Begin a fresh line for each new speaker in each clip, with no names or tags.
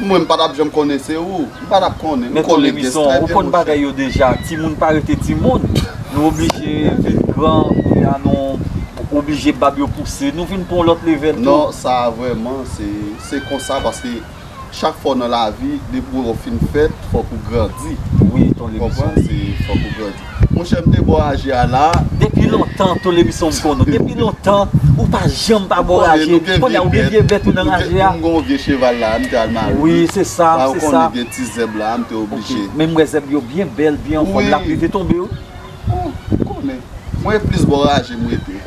Mwen m pa tap janm konnen se ou. M pa tap konnen. Nou konnen pyès trè byen monchè. Ou
konn bagay yo deja. Timoun pa rete timoun. Nou oblije vin gran kounye a nou oblije bab yo pouse. Nou vin pou yon lòt level tou. Non sa a vrèman
se konsa paske chak fwa w nan lavi depi w fin fèt fòk ou grandi. Wi ton lemisyon. Ou
konprann se fòk ou grandi.
Monchè m te bò raje a la. Depi lontan
Tolebisson m konnen w depi lontan ou pa janm pa bò raje kounye a ou gen vye bèt ou nan raje a. M gon vye cheval la
a m te al mare wi se
sa ou konnen gen ti zèb la
a m
te
oblije. Men m wè zèb yo byen
bèl byen anfòm lap rive tonbe wi. Ou konnen
mwen e plis bò raje m rete.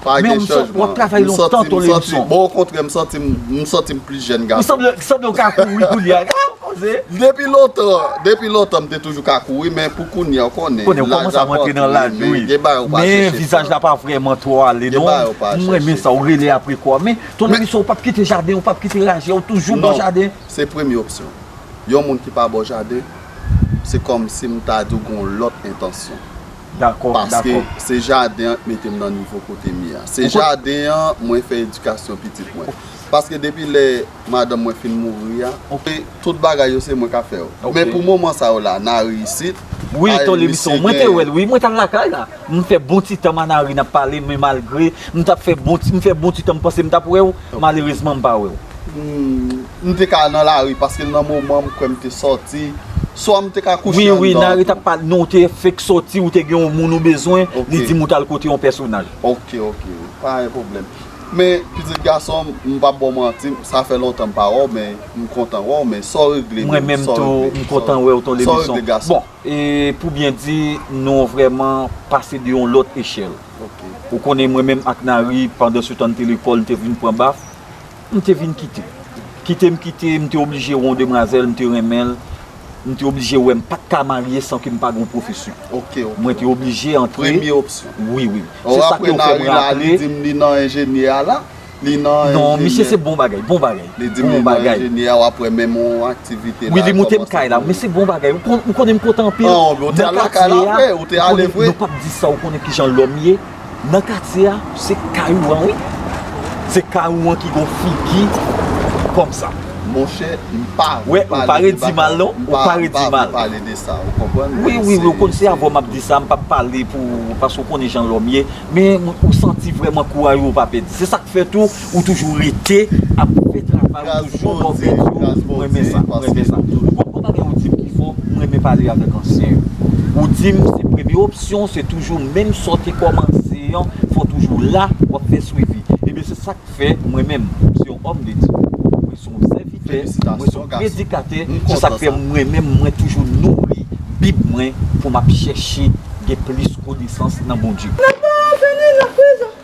Pa gen chanjman.
M santi, m santi, bon okontrè m santi
m, m santi m plis jèn gason. Ou sanble, sanble ou ka kouri
kounye a. Depi
lontan, depi lontan m te toujou ka kouri men pou kounye a ou konnen. Konnen ou kòmanse ap rantre
nan laj wi. Gen bagay ou pa chèche fè. Men vizaj la pa vrèman twò ale non. Gen bagay ou pa chèche fè. M renmen sa, ou rele apre kò. Men ton Louis ou pap kite jaden, ou pap kite raje, ou toujou bò jaden. Non, se premye opsyon.
Yon moun ki pa bò jaden, se kòmsi m ta di ou gen yon lòt entansyon. Dakò, dakò.
Paske se
jaden an k mete m nan nivo kote m ye a. Se jaden an mwen fè edikasyon pitit mwen. Paske depi lè madanm mwen fin mouri a, tout bagay yo se mwen k ap fè yo. Men pou moman sa yo la, Nari isit. Wi ton Lebisson,
mwen te wè l wi, mwen t al lakay la. M fè bon ti tan m a Nari n ap pale men malgre m t ap fè bon ti tan m panse m t ap wè w, malerezman m pa wè w. M
te ka nan lari paske nan moman m kwè m te sòti. Swa m te ka kouche anndan. Wi, wi, Nari t ap pale.
Non, ou te fenk sòti, ou te gen yon moun ou bezwen, li di m ou t al kote yon pèsonaj. Ok, ok,
pa gen pwoblèm. Men, pitit gason m, m p ap ba w manti, sa fè lontan m pa wè w, men m kontan wè w, men sa w regle menm? Mwen menm tou, m
kontan wè w ton Levinson. Sa w regle gason? Bon, e pou byen di, nou vrèman pase de yon lòt echèl. Ok. Ou konnen mwen menm ak Nari, pandansetan n te lekòl, n te vin pran baf. M te vin kite. Kite m kite, m te oblije wè yon demwazèl, m te renmen l, m te oblije wè m pa t ka marye san ke m pa gen yon pwofesyon. Mwen te oblije antre. Wi,
wi. Se sa
ke ou fè m rantre.
Non,
misye se bon bagay, bon bagay. Bon bagay.
Wi, li moute m kay la.
Men se bon bagay. Ou konnen m kontan anpil. Nan katye
a, nou pa t di sa, ou konnen
kijan lòm ye. Nan katye a se kay ou an wi. Se kay ou an ki gon figi kòm sa. Monchè
mpa vle
pale de bagay non mpa vle pale de sa
ou konprann. Wi wi ou konn se avèw
map di sa mpap pale pou paske ou konnen jan lòm ye men ou santi vrèman kouraj ou pa pèdi se sak fè tou Ou toujou rete ap fè travay ou toujou bò bèt yo m renmen sa m renmen sa ou konn yon bagay ou dim ki fò m renmen pale avèk ansyen yo ou dim se premye opsyon se toujou menm sa w te kòmanse an fò w toujou la w ap fè swivi ebyen se sak fè mwen menm m se yon òm de Dye mwen se yon sèvitè mwen se yon predikatè se sak fè mwen menm mwen toujou nouri bib mwen pou m ap chèche gen plis konesans nan Bondye.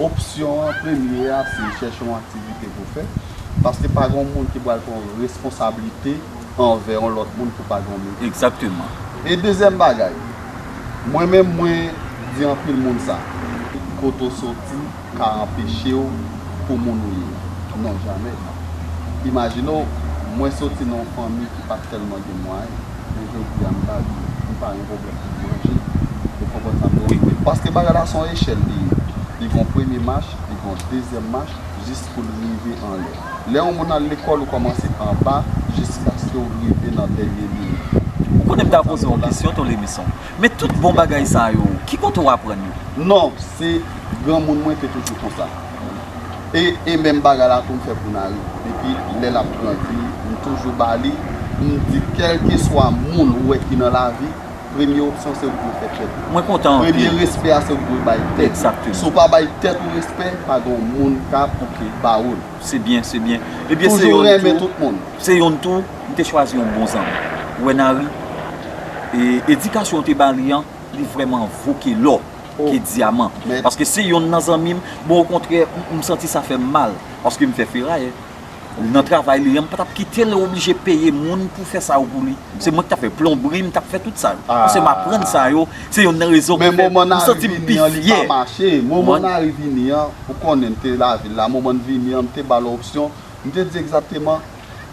Opsyon an premye a se chèche yon aktivite pou fè, paske pa gen yon moun ki pral pran responsablite anvè yon lòt moun pou pa dòmi. Egzakteman. E
dezyèm
bagay, mwen menm mwen di anpil moun sa, kote ou soti ka anpeche w pou moun ou ye a? Non, jamè. Imajine w, mwen soti nan yon fanmi ki pa tèlman gen mwayen. Men jodi a m ka di m pa gen pwoblèm pou m manje. Ou konprann sa m vle di? Wi. Paske bagay la se yon echèl li ye. Li gen yon premye mach, li gen yon dezyèm mach jis pou l rive anlè. Lè yon moun al lekòl, ou kòmanse anba jiskaske w rive nan dènye limit. Ou konnen m ta poze
yon kesyon Tolemison. Men tout bon bagay sa yo, ki kote w aprann yo? Non, se
granmoun mwen te toujou konsa. e menm bagay la tou m fè pou Nari depi lè lap pran vi m toujou ba li m di kèlkeswa moun ou wè ki nan lavi premye opsyon se ou dwe fè tèt ou premye
respè a se ou
ki dwe bay tèt ou si ou pa bay
tèt ou
respè pa gen yon moun ka pou ki ba ou l
toujou renmen tout moun
se yonn tou
m te chwazi yon bon zanmi ou wè Nari edikasyon ou te ba li an li vrèman vo ke lò. ke diaman paske se yonn nan zanmim bon okontrè m santi sa fèm mal paske m fè ferayè nan travay li an m patap kitel oblije peye moun pou fè sa yo pou li se mwen ki tap fè plonbri m tap fè tout sa yo paske m aprann sa yo se yonn nan rezon ki fè m santi m
pi fyè moman nari vini an ou konnen m te lavil la moman n vini an m te bal opsyon m te di egzakteman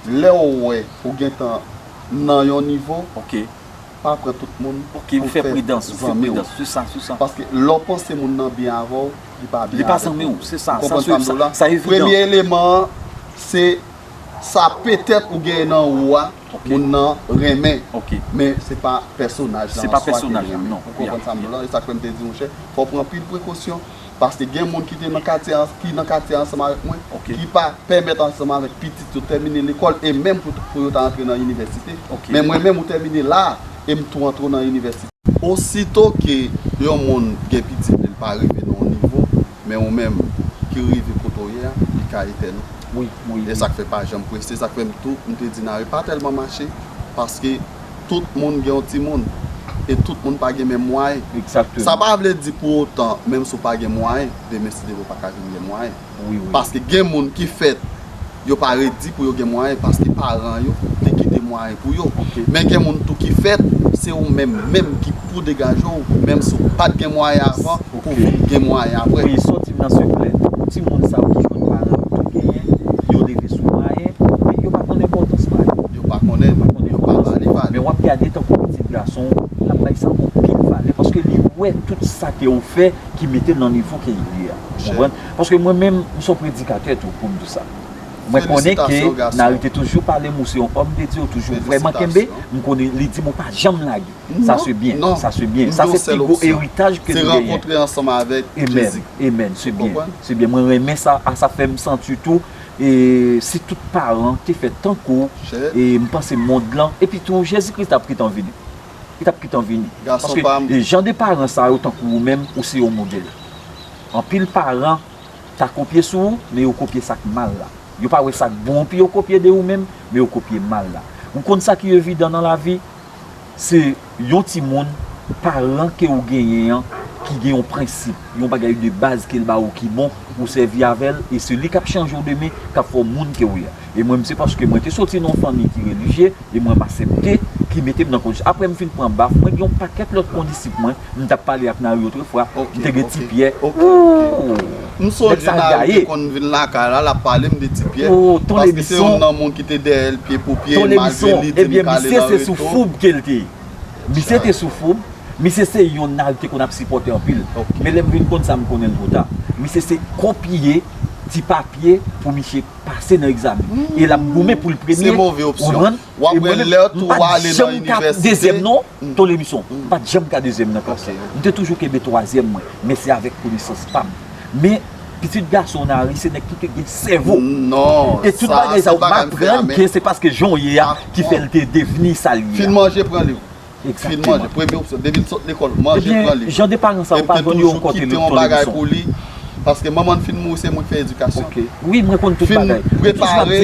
lèw wè ou gentan nan yon nivo
Pa pran tout
moun pou fè zanmi w. Ok, ou fè pridans,
ou fè pridans. Se sa, se sa. Paske lè w
panse moun nan byen avè w, li pa byen avè w. Li pa zanmi w, se sa. Ou
konprann sa m di w la? Sa evidan. Premye
eleman an, se sa petèt ou genyen nan ou a, moun nan renmen. Ok. Men se pa pèsonaj la an swa ke li renmen. Se pa pèsonaj la,
non. Ou konprann sa m di w la? E sa
k fè m te di w monchè, fò w pran anpil prekosyon. Paske gen moun ki te nan katye a, ki nan katye a ansanm avèk mwen, ki pa pèmèt ansanm avèk pitit yo tèmine lekòl e menm pou yo ta antre nan inivèsite. Men mwen menm ou tèmine la a e m tou antre w nan inivèsite. Osito ke yon moun gen pitit li, li pa rive nan yon nivo, men ou menm ki rive kote w ye a, li ka etèn ou. E sa k fè pa
janm
prese. Sa k fè m tou, m te di Nare pa tèlman mache, paske tout moun gen yon timoun, e tout moun pa gen menm mwayen. Exactement. Sa pa vle
di pou
otan, menm si w pa gen mwayen, demen si Dye vle w pa ka vin gen mwayen. Wi, wi. Paske gen
moun ki
fèt, yo pa redi pou yo gen mwayen paske paran yo te kite mwayen pou yo. Ok. Men gen moun tou ki fèt, se ou menm menm ki. pou degaje w menm si w pat gen mwayen avan pou w vin gen mwayen aprè. Wi, soti m nan seklè.
Pou timoun sa yo ki jwenn paran yo tou genyen, yo leve sou mwayen, men yo pa konn enpòtans mwayen. Yo pa konnen, yo
pa konn enpòtans li. Men w ap gade tankou
pitit gason w, l ap bay sa anpil valè paske li wè tout sa ke w fè ki mete l nan nivo ke li ye a. Ou konprann? Paske mwen menm, m se yon predikatè tou pou m di sa. Mwen konnen ke Nari te toujou pale m ou se yon òm de Dye, ou toujou vrèman kenbe, m konnen li di m ou pa janm lage. Sa se byen. Non. Sa se byen. Sa se pi gwo eritaj ke nou genyen. Se rankontre ansanm avèk
Jezi. Amen. Se byen.
Se byen. Mwen renmen sa. A sa fè m santi tou. E si tout paran te fè tankou w. Chè. E m panse mond lan. E pi tou Jezi Kris tap kitan vini. Li tap kitan vini. Gason pa m. Paske jan de paran sa yo tankou ou menm. Ou se yon modèl. Anpil paran ta kopye sou ou. Men yo kopye sa k mal la. Yo pa wè sa k bon pi yo kopye de ou menm. Men yo kopye mal la. Ou konn sa ki evidan nan lavi. Se yon timoun paran ke ou genyen an ki gen yon prensip, yon bagay de baz ke l ba ou ki bon, ou sèvi avè l, e se li k ap chanje w demen, k ap fè w moun ke ou ye a. E mwen m se paske mwen te soti nan yon fanmi ki relijye, e mwen m asepte, ki mete m nan kondisyon. Apre m fin pran baf, mwen gen yon pakèt lòt kondisip mwen, m t ap pale ak Nari otrefwa, m te gen Tipyè, ooh!
M sonje Nayou te konn vin lakay la, l ap pale m de Ti Pyè, paske se youn nan moun ki te dèyè l pye pou pye, malgre li di m k
ale nan reto. Misye te sou foub, misye se youn Nayou te konn ap sipòte anpil. Men lè m vin konn sa, m konnen l twò ta. Misye se kopye ti papye pou misye pase nan egzamen. E l ap goumen pou l premye, ou konprann?
Wap wè lèw tou wa ale nan inivèsite. Mwen pat janm ka dezyèm non
Tolemison, mwen pat janm ka dezyèm nan klas la. Mwen te toujou kenbe twazyèm mwen, men se avèk konesans pam. Men, pitit gason Onari se nèg ki te gen sèvo. E tout
bagay sa ou
maprann ke se paske jan w ye a ki fè l te devni sa l ye a. Fin manje pran liv.
Fin manje,
premye opsyon, depi
l sot lekòl, manje pran li. Jan de paran sa yo pa jwenn
yon kote nou tande leson. Pou li,
paske manman l fin mouri se mwen ki fè edikasyon. Ok, wi mwen konn
tout bagay. Fin prepare,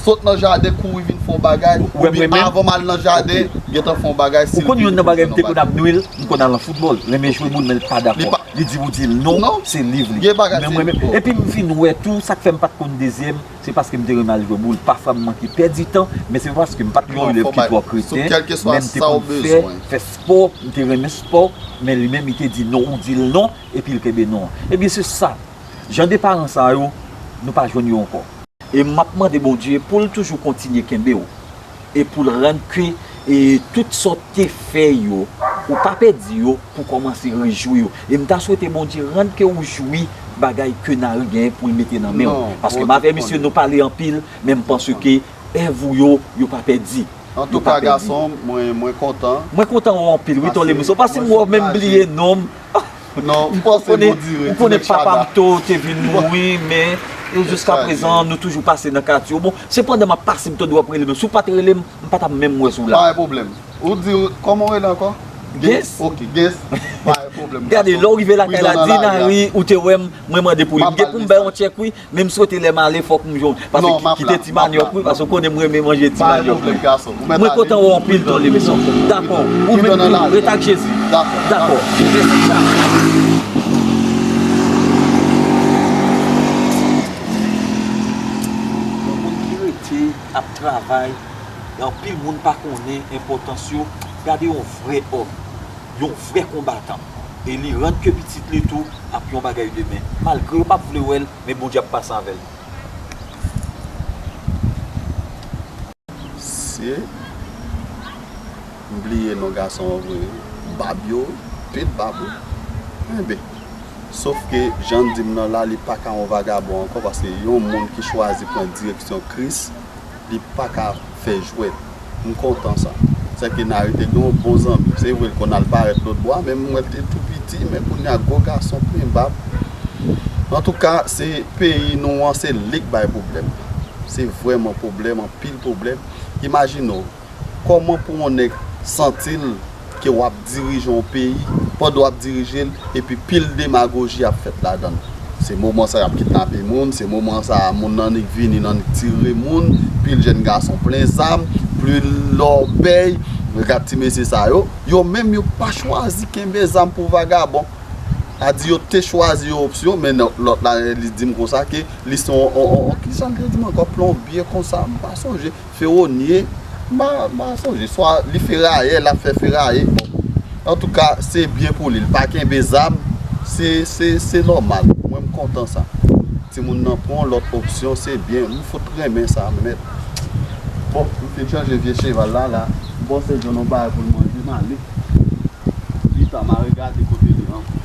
sot nan jaden kouri vin fè yon bagay, oubyen avan m al nan jaden, gen tan fè yon bagay si l vini pou l fè yon bagay. Ou konn yon nan bagay m te
konn ap nwi l, m konn al nan foutbòl, renmen jwe boul men l pa dakò. Li di ou di l non, se liv li. Gen bagay se liv. Epi m fin wè tou, sa k fè m pa t konn dezyèm. Se paske m te renmen al jwe boul. Pafwa m manke pèdi tan, men se pa paske m pa t yon elèv ki twò kreten, men m te konn
fè, fè spò, m
te renmen spò, men li menm li te di non, ou di l non, epi l kenbe non an. Ebyen se sa, jan de paran sa yo, nou pa jwenn yo ankò. E m ap mande Bondye pou l toujou kontinye kenbe w. e pou l rann ke e tout sa w te fè yo, ou pa pèdi yo, pou kòmanse rejwi w. E m ta swete Bondye rann ke ou jwi bagay ke Nari genyen pou l mete nan men w. Paske m avè misye nou pale anpil, men m panse ke èv ou yo, yo pa pèdi. Antouka gason
m, mwen kontan. Mwen kontan ou anpil
wi Ton Lemonso, paske m wè w men m bliye non m.
Ou konnen papa m to
te vin mouri men e jiska prezan nou toujou pase nan katye w. Bon, se pandan m ap pase m tande w ap rele m. Si w pa t rele m, m pa t ap menm wè si w la. Pa gen pwoblèm. Ou
di w, kòman w rele ankò? Gens. Ok,
Gens.
Pa gen pwoblèm. Gade, lè w rive lakay
la, di Nari ou te wè m, mwen mande pou li. M gen pou m bay yon tchèk wi. Men m swete lè m ale fòk m jwenn pase kite ti manyòk wi pase ou konnen m renmen manje ti manyòk wi mwen kontan wè w anpil ton lemison dakò ou menm tou ret ak jezi dakò mèsi chak. Yon vrè konbatan. E li rann ke pitit li tou ap yon bagay demen. Malgre yo pap vle wè l, men Bondye ap pase avè l.
Se M bliye non gason an vre wi. Bab yo wi, pil bab wi. Enben. Sof ke jan n di m nan la li paka yon vagabon ankò paske yon moun ki chwazi pran direksyon Kris. Li paka fè jwèt. M kontan sa. Sè ke Nary te gen yon bon zanmi. Se vre l konn al parèt lòt bò a men m wè l te tou piti men kounya gwo gason plen bab. Antouka se peyi nou an se li k bay pwoblèm. Se vrèman pwoblèm anpil pwoblèm. Imajine w. Kòman pou on nèg santi l ke w ap dirije on peyi, pandan w ap dirije l, epi pil demagoji ap fèt ladan l? Se moman sa y ap kidnape moun, se moman sa a moun annik vini, annik tire moun, pil jèn gason plen zam, pil lòbèy, gad ti mesye sa yo, yo menm yo pa chwazi kenbe zam pou vagabon. A di yo te chwazi yon opsyon, men lòt la li di m konsa ke li se on, on, on, ki sa l te di m ankò? Plonbye konsa, m pa sonje. Fewonie ma sonje swa li feraye lap fè feraye bon antouka se byen pou li li pa kenbe zam se nòmal mwen m kontan sa timoun nan pran yon lòt opsyon se byen m fout renmen sa mèt bon m fin chanje vye cheval la la bon se jwenn yon bagay pou l manje m ale pitan m al gade kote li ankò.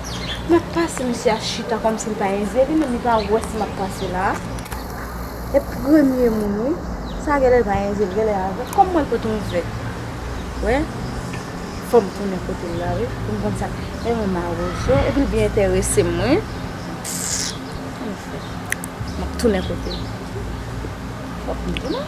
Map pase misye a chita komsi li pa envite li menm li pa wè si map pase la e premye moun wi sa a genlè li pa envite genlè li avèl kòm mwen pote yon vè wè fòm tounen kote la wi poum konn sa e mwen mawozo epi li byen enteresem wi map tounen kote l fòk m tounen.